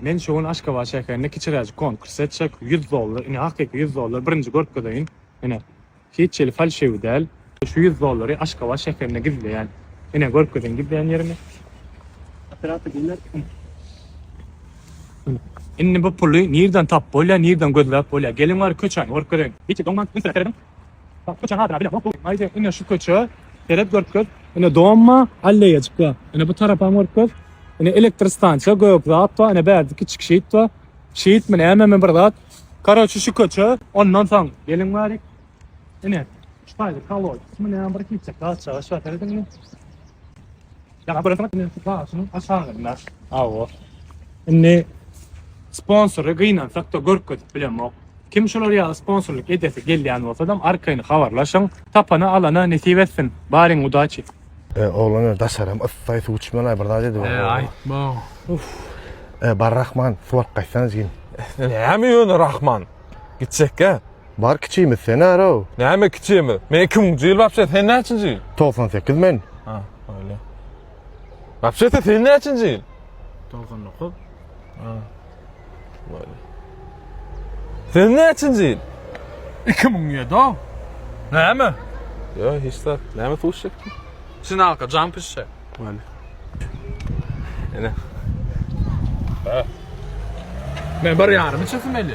Men şu gün Aşgabat şäherinde kiçiräjik konkurs etjek. Ýüz dollar, ine, hakyky ýüz dollar. Birinji görkezeýin. Ine, hiç hili falşiwi däl. Şu ýüz dollary Aşgabat şäherinde gizleýän. Ine, görkezeýin gizleýän ýerimi. Operator geler. Indi bu puly nireden tapyp bolýar, nireden gözläp bolýar? Geliň bari köçäni görkezeýin. Hiç hili doňmaň, ünsüräk serediň. Bak köçäň adyna bile bok. Aýde ine şu köçä seret görkez. Ine domma alleýajyk bar. Ine bu tarapam görkez. Ine elektr stansiýa gök zat bar. Ine bärde kiçik şeýt bar. Şeýtmi nämemi bir zat. Karoçi şu köçe ondan soň geliň bari. Ine şu taýda kolodesmi näme bir kiçek zat çagaş bar serediňmi. Ýaňy bir zat indi daşyň aşagynda. Hawa. Indi sponsory gynansak-da görkezip bilemok. Kim şular ýaly sponsorlyk edesi gelýän bolsadam arkaýyn habarlaşyň. Tapana alana nesip etsin. Baryň udaçi. E oglan öli daşaram yssaý suw içmeli bir zat edip. E aýtma. Uff. E bar Rahman suw alyp gaýtsana jigim. Näme ýöne Rahman? Gitjekkä? Bar kiçimiz sen arow. Näme kiçimi? Men iki müňji ýyl wapşe sen näçinji ýyl? Togsan sekiz men. Ha, öyle. Wapşete sen näçinji ýyl? Togsan dokuz. Ha. Böyle. Sen näçinji ýyl? Iki müň ýedi o. Näme? Yo hiç zat. Näme suw içecek? Sinalka, jam pişse. Wale. Ene. Ha. Men bir yarım içesim eli.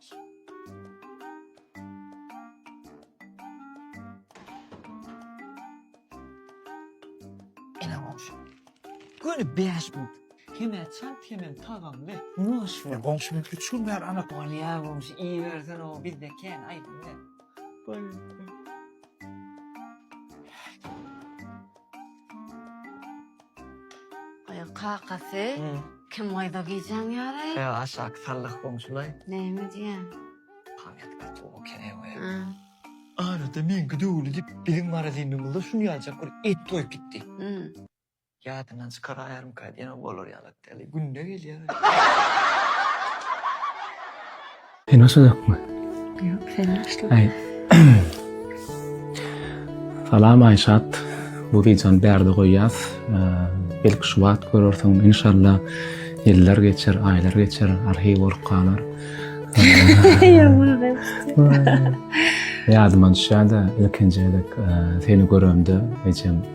Göni bäş gün. Hemä çalt hemem tagamly. Nuş we goňşy men üç gün bäri anat. Ol ýa goňşy iý bersen o bizde kän aýdyň. Goý. Aýol kakasy, kim gaýda gijäň ýaly? Ýa aşaky sallah goňşulaý. Näme diýýäň? Pamýatka towy kereg we. Arada men gidewli diýip, biziň marazynymyzda şuny ýaljak bir et doýup gitdi. Ýadyndan çykaraýarmyka diýen bolar ýaly. Ýaly günde gelýär. Sen başladakmy? Ýok, sen başla. Aý. Salam Aýşat. Bu wideony bärde goýýas. Belki şu wagt görersiň. Inşallah ýyllar geçer, aýlar geçer, arhiw bolup galar. Ýadyma düşýär-de, ilkinji gezek seni göremde ejem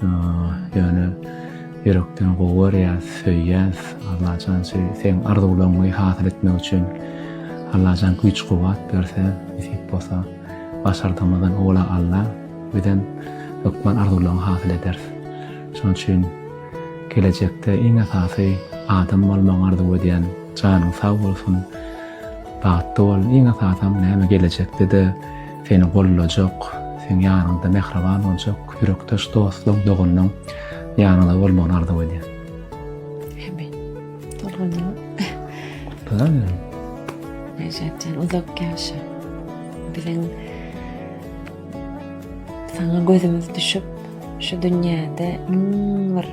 Ýöne ýürekden gowy görýäs, söýýäs. Allajan şu seň arzuwlaryňy hasyl etmek üçin Allajan güýç-kuwwat berse, nesip bolsa, başardygymyzdan owla Alla, bizem hökman arzuwlaryňy hasyl ederis. Şonuň üçin gelejekde iň esasy adam bolmagyňy arzuw edýän. Janyň sag bolsun. Bagtly bol. Iň esasam näme gelejekde-de seni goldajak, seň ýanyňda mähriban boljak Ýürekdaş dostuň, doganlaň ýanyňda bolmagyny arzuw edýän. Hemme. Doganlaň. Doganlaň. Neşetden uzak yaşa. Bilen sana gözümüz düşüp şu dünyada iň bir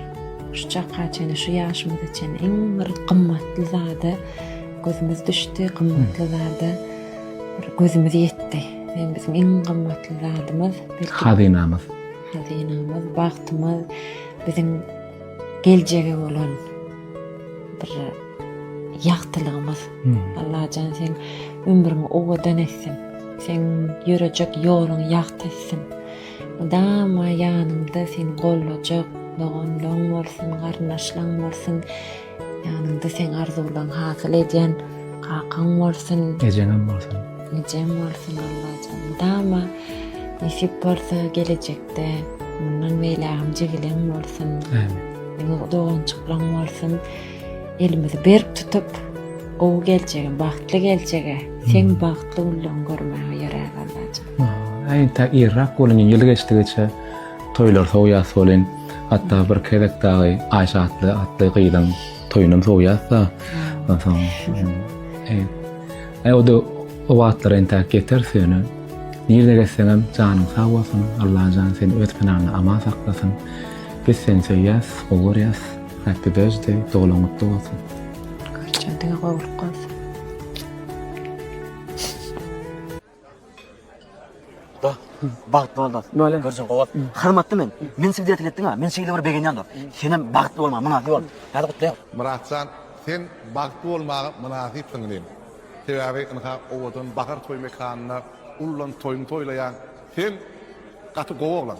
şu çaka çene şu yaşımız için iň bir gymmatly zada gözümüz düşdi gymmatly zada gözümüz yetti. Sen bizim iň gymmatly zadymyz. Hazynamyz. Hazynamyz, bagtymyz, biziň geljege bolan bir ýagtylygymyz. Allajan sen ömrüňi owadan etsin. Sen ýörejek ýoluň ýagty etsin. Mydama ýanyňda seni gollajak doganlaryň bolsun, garyndaşlaryň bolsun. Ýanyňda seň arzuwlaň hasyl edýän kakaň bolsun. Ejeňem bolsun. Ejem bolsun Allajan. Mydama nesip bolsa gelejekde mundan beýlägem jigileň bolsun. Ämin. Ýene dogançyklaň bolsun. Elimizi berk tutup gowy geljege, bagtly geljege, seň bagtly günleň görmäge ýöräs Allajan. Äýt-ä irrak boluň ýyl geçdigiçe. Toýlar sowýas welin, hatda bir gezek dagy Aýşe atly atly gyzyň toýunam sowýas-da. Onsoň, eý, eý o-da o wagtlar entäk ýeteris ýöne. Nirde gezseňem janyň sag bolsun, Allajan seni öz pynanda aman saklasyn. Biz seni söýýäs, gowy görýäs. Happy birthday, doglan gutly bolsun. Görjändiňe gowulyk bolsun. Dost, bagtly bol dost. Nole? Görjün gowy. Hormatly men. Men sizi dertli etdiň ha. Men şeýle bir begenýän dost. Senem bagtly bolmaga mynasyp bol. Hadi gutlaýan. Myratjan sen bagtly bolmaga mynasypsyň inim. Sebäbi ynha owadan bahar toý mekanynda ullan toýuňy toýlaýaň. Sen gaty gowy oglan.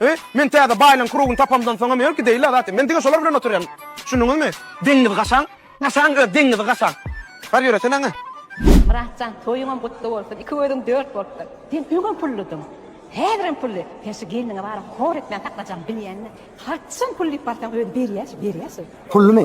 He, men täze baýlaryň krugyny tapamdan soňam ýör gideýinle zatem. Men diňe şolar bilen oturýan. Düşündiňizmi? Deňňizi gaçaň. Gaçaň öz deňňizi gaçaň. Bar ýöreseň aňa. Myrat jan toýuňam gutly bolsun iki gözüň dört bolupdyr sen öňem pullydyň häzirem pully sen şu gelniňe baryp hor etmän saklajagyňy bilýäňmi haçan pul diýip barsaň özi berýä şu berýä şu. Pullymy?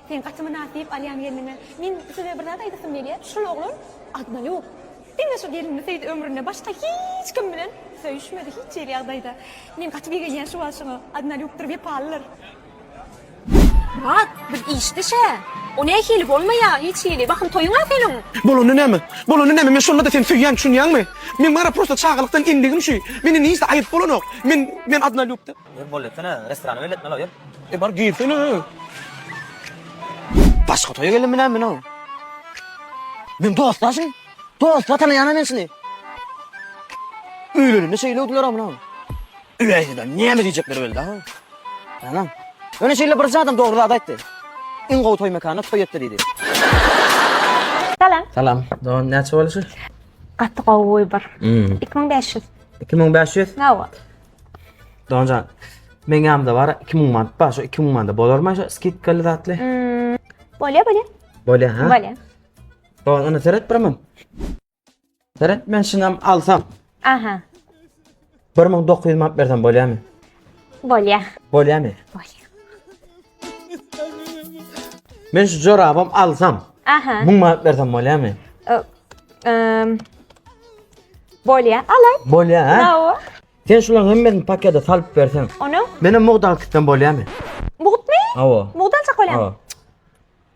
Sen gaty mynasyp alýan gelniňe. Men size bir zat aýdasym gelýär, şul oglan Adnaýup diňe şu gelini söýdi ömründe başga hiç kim bilen söýüşmedi hiç hili ýagdaýda. Men gaty begenýän şu wagt şoňa Adnaýupdyr wepalydyr. Myrat biz işde şä. O nähili bolmaýa hiç hili bahym toýuňa seniň. Bolany näme? Bolany näme men şonda-da seni söýýän düşünýäňmi? Men maňra prosta çagalykdan endigim şu. Mende nijde aýyp bolanok. Men men Adnaýupda. Salam. Salam. Dogan näçe boluşy? Gaty gowy wybor. Iki müň bäş ýüz. Iki müň bäş ýüz? Hawa. Donjan. Men ýamda bar 2000 manat bar. Şu 2000 manada bolarmy şu skidkaly zatly? Hmm, bolýa, bolýa. Bolýa ha? Bolýa. Don ony seret birmem. Seret men şunam alsam. Aha. 1900 manat bersem bolýarmy? Bolýa. Bolýarmy? Bolýa. Men şu jorabam alsam, Aha. 1000 manat bersem bolýarmy? Ö- Ehm. Bolýa, alay. Bolýar, ha? Bravo. Sen şularyň hemmesini pakete salyp berseň. Onu Meni mugdal kitden bolýarmy? mugtmy? Awa. Mugdalçak bolýa. Awa.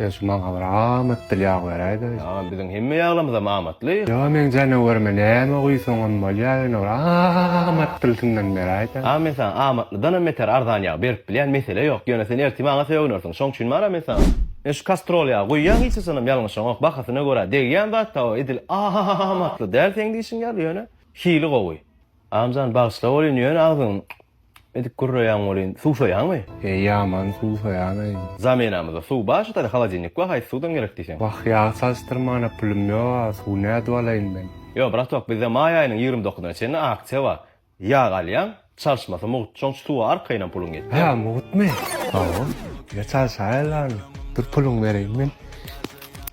Ýa şu maňa bir amatdyr ýag beräýdä. Ýa biziň hemme ýaglarymyzam amatly. Ýa meň janawerime näme guýsaňam bolýar ýöne bir amatdylysyndan beräýdä. A men saňa amatlydanam beter arzan ýag berip bilýän mesele ýok ýöne sen ertir maňa sögünersiň şoň üçin bana men saňa Men şu kastrol ýagy guýýan hiç haçanam ýalňyşaňok bahasyna görä degýän zatda o edil amatly däl seň diýşiň ýaly ýöne hili gowy. Amjan bagyşla bolyn ýöne agzyň edip gürreýäň bolyn suwsaýaňmy. Eý ýaman suwsaýaneý. Zamenamyza suw bar şu taýda holodilnik we haýsy suwdan gerek diýseň. Wah ýag salşdyrmana pulum ýok a suw nädip alaýyn men. Ýok bratok bizde maý aýynyň ýigrimi dokuzyna çenli aksiýa bar ýag alýaň çalşmasy mugt şoňç suwa arkaýynam puluň ýetýär. Hä mugtmy? Hawa. Ýa çalşaýaly ony dur puluňy bereýin men.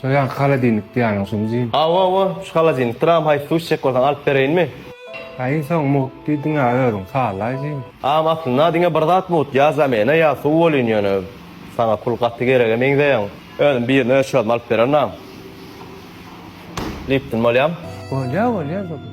Soýan halodilnik diýýäniň şumy jyn? Hawa hawa şu halodilnik Tram haýsy suw içjek bolsaň alyp bereýinmi? Haý iň soň mugt diýdiňä özüň sallaý jyn. Agam aslynda diňe bir zat mugt ýa zamena ýa suw bolýn ýöne saňa pul gaty gerege meňzeýäň özüm birini öz çözüp alyp bererin agam. Lipton bolýam. Bolýa bolýa Zubul.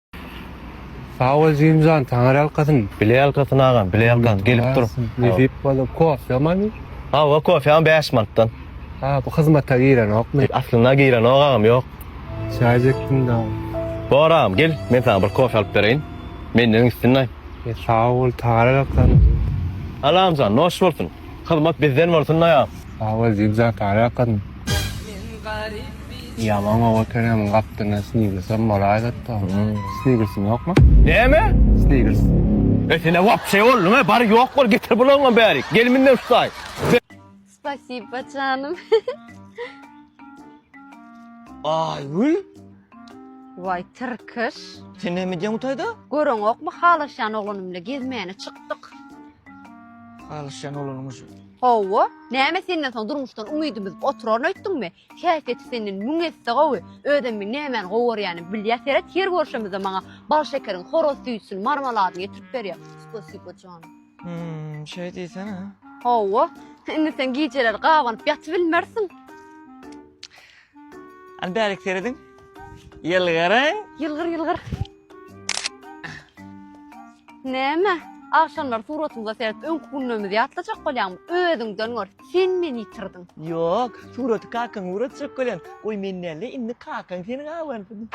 Sag bol Jimjan taňar ýalkasyn. Bile ýalkasyn agam bile ýalkasyn gelip dur. Nesip bolsa kofýa many? Hawa kofýam bäş mantdan. Ha bu hyzmata girenokmy? Aslynda girenok agam ýok. Çaý çekdim da. Bor agam gel men saňa bir kofýa alyp bereýin. Menden üstünlaý. Sag bol taňar ýalkasyn. Alamjan noş bolsun. Hyzmat bizden bolsun daýa. Sagbol Zigzag Taýak gazym. Ýaman gowy otyryň gapdalynda snigersem bolaýdatda. Snigersiň ýokmy? Näme? Snigers. E senä wapşe bolduň he bar ýok bol getir bulaňam bärik gel menden tutaý. Spasiba janym. Aýgül. Waý tirkiş. Sen näme edýäň bu taýda? Göreňokmy halaşýan oglanym bilen gezmäne çykdyk. Halaşýan oglanymyş. Hawa, näme senden soň durmuşdan umydymyz oturaryn öýtdüňmi? Häsiýeti senden müň esse gowy. Özem men nämäni gowy görýänim bilýä seret, her görşemizde maňa bal şekeriň horaz süýjüsini, marmaladyny getirip berýä. Spasibo jan. Hmm, şeý diýsene. Hawa, indi sen gijeleri gabanyp ýatybilmersiň. Hany bärik serediň. Ýylgyryň. Ýylgyr ýylgyr. Näme? Agşamlar suratymyza serip öňki günlerimizi ýatlajak bolýaňmy? Özüňden gör. Sen meni ýitirdiň. Ýok, suraty kakaň ugrutjak bolýan. Goý men näle, indi kakaň seni gabarsyn.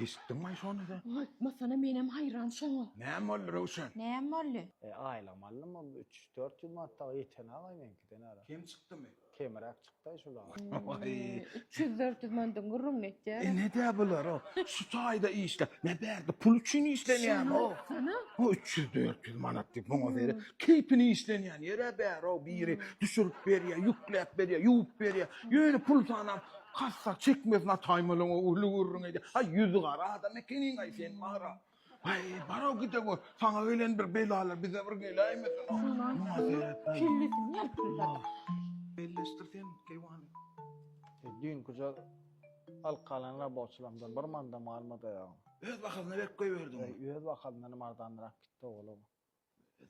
Eşitdiňmaý şony-da? Aýtmasana, menem haýran şoňa. Näme boldy, Röwşen? Näme boldy? E, aýlygym aldym, ol üç, dört ýüz manat dagy ýeten-aý meňkiden ara. Kem çykdymy? Kemiräk çykdy-aý şul ara. Waý! Üç ýüz, dört ýüz manadyň gürrüňini etýär. E, ne-dä bular, o, şu taýda işlä, ne bärde pul üçin işlenýämi, o? Şony aýtsana! O üç ýüz, dört ýüz manat diýip, muňa beýle keýpine işlenýän ýer-ä bär-ow, biri düşürip berýär, ýükläp berýär, ýuwup berýär, ýöne pul sanap, Hassa çekmesin ataýym ol oňa uly gürrüň edýär. Haý ýüzi gara adam ekeniň-aý sen Mara. Haý bar-ow gide gör. Saňa gelen bir belalar bize bir geläýmesin. Şundan soň kellesini ýalpyldady. Belleşdir sen keýwany. Düýnküje alyp galan raboçylarymdan bir manda malym-a daýagym. Öz bahasyna berip goýberdiňmi? Öz bahalyndanam arzanrak gitdi oglum.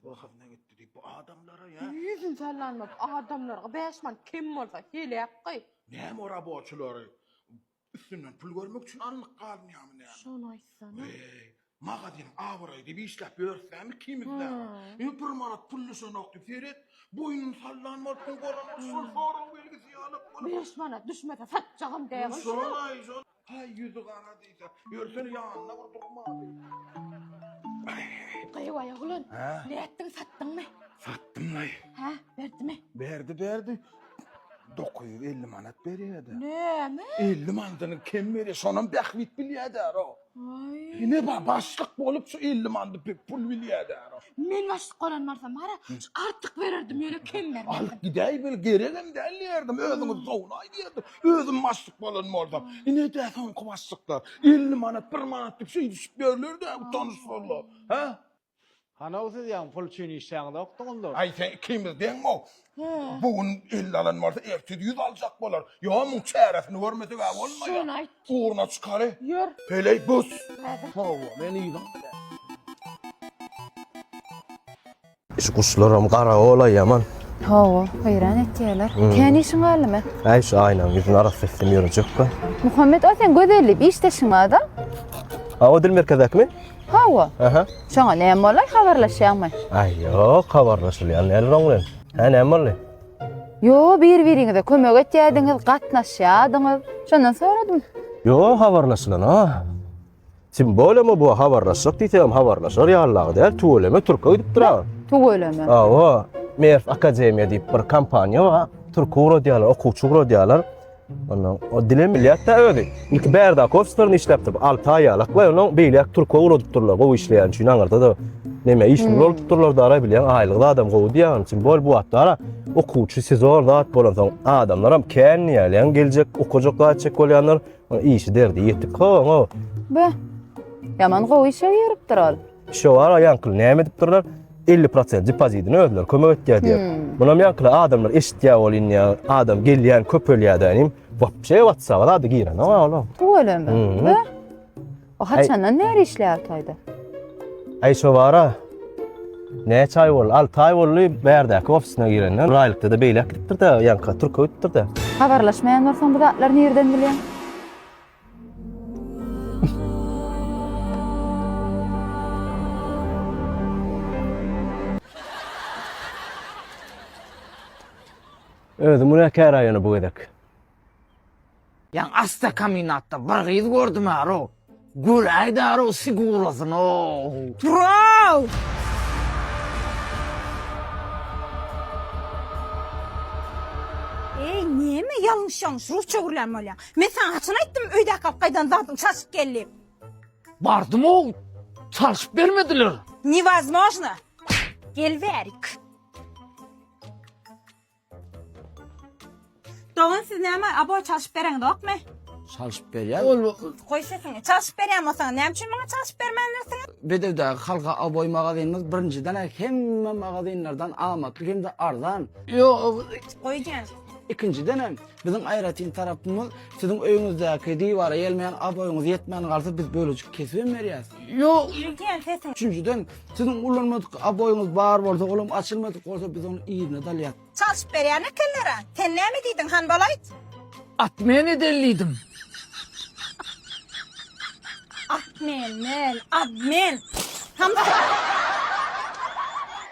Wahazyna gitdi diýip bu adamlara ýa. Ýüzün sallanmaz adamlarga bäş manat kem bolsa heläk goý. Näme o raboçylary üstünden pul görmek üçin alnyk galynýamy näme. Şony aýtsana. Weý magazynyň abraýy diýip işläp ýörüs näme ikimiz dagy. Indi bir manat pul düşenok diýip seret boýnuny sallan bolup goramak şol sorag belgisi ýalyk bolup. Bäş manat düşmese satjagam däl-oý şuny. Şolaý şol. Haý, ýüzi gara diýse, ýörsene ýanyna bir durmaly. Gyýw aýa gulan, Hä? nätdiň, satdyňmy? Satdym laý. Hä, berdimi? Berdi, berdi. 950 manat berýär-de. Näme? 50 manydyny kem berýär, şonam bähbit bilýär-dä o. Aý. Ine ba, başlyk bolup şu 50 manydy pek pul bilýär-dä o. Men başlyk bolan bolsam bara, artyk bererdim, ýöne kem bermezdim. Alyp gidäý, bil, geregem däl diýerdim, özüňiz dowlaý diýerdim. Özüm başlyk bolan bolsam, ine-de soňky başlyklar. 50 manat, 1 manat diýip şeý düşüp ýörler-de bu tanyşlarlar. Hä? Hanow siz ýaňy pul üçin işlänokdyňyz-da. Aý sen ikimiz deňmi-ow? Bu gün elli alan bolsa, ertir ýüz aljak bolar. Ýa muň çäresini görmeseg-ä bolmaýar. Şony aýt. Ugruna çykary. Ýör. Heleý bus. Hawa, men yzyň bilen. Şu guşlaram garagolaý ýaman. Hawa, haýran etýärler. Kän işiň galdymy? Äý, şu aýnaň ýüzüni arassa etdim ýörejekkä. Muhammet, o seň gözellik işdeşiň bada? A, o dil merkezdäkimi? Hawa. Aha. Şoňa näme bolaý, habarlaşýaňmy? Äý, ýok, habarlaşylýar näler oň bilen. Hä, näme boldy? Ýo, bir-biriňize kömek etýärdiňiz, gatnaşýardyňyz. Şondan soradym. Ýo, habarlaşylan-a. Tim bolama bu habarlaşjak diýsegem habarlaşar ýallagy däl tüweleme türke gidip durag. Tüweleme. Awa Merf Akademiýa diýip bir kompaniýa bar. Türki uradýarlar, okuwçy uradýarlar. Ondan o dilem bilýär-de özi. Ilki Bärda Kofstorny işläpdi. 6 aý ýalak we onuň beýläk türke uradyp durlar. Gowy işleýän üçin aňyrda da neme işini hmm. uradyp durlar da ara bilýän aýlygy adam gowy diýýän. Tim bol bu atlara okuwçy sizor zat bolan soň adamlaram kän diýýär. Ýa geljek okujak zat çek bolýanlar. O işi derdi ýetik hoňo. Beh. Ýaman gowy işe ýeripdir ol. Şo wara ýaňkyl näme edip durlar? 50% depozitini özleri kömek etýär diýip. Munam ýaňkyl adamlar eşitýär ol indi adam gelýän köpelýär da inim. Wapşe WhatsApp-a zady girenok olam. Tüweleme. Beh. O haçandan bäri işleýär Altayda? Ay şo bara. Näçe ay boldy? 6 ay boldy bärdäki ofisine girenden. Bir aýlykda-da beýläk gidipdir-de, ýanka Türkiýe gidipdir-de. Habarlaşmaýan bolsaň bu zatlary nirden bilýäň? Özüm günäkär-ä ýöne bu gezek. Ýan asda kaminatda bir gyz gördüm aro. Göräý daro sigurasyno. Turaw! Eý, näme ýalňyş-ýalňyş rus çöwürlän bolýaň? Men saňa haçan aýtdym öýdäki alyp gaýdan zadyň çalşyp gel diýip? Bardym-ow, çalşyp bermediler. Newozmojno! Gel bärik. Dogan siz näme abo çalşyp bereňizokmy? Çalşyp berýär. Ol Goý sesiňi. Çalşyp berýän bolsaňyz näme üçin maňa çalşyp bermändirsiňiz? Bedewdäki Halka Aboý magazynymyz birinjiden hemme magazynlardan amatly hem-de arzan. Ýok. Goý jan. Ikinjiden hem biziň aýratyn tarapymyz siziň öýüňizdäki diwara ýelmeýän aboýyňyz ýetmän galsa biz bölejik kesibem berýäs. Ýok. Goý jan sesiňi. Üçünjiden Siziň ulanmadyk aboýyňyz bar bolsa, olam açylmadyk bolsa biz ony yzyna dalýas. Çalşyp berýän ekenler-a. Sen näme diýdiň, Hanbal aýt? At men edel diýdim. At men, men, ad men. Hanbal.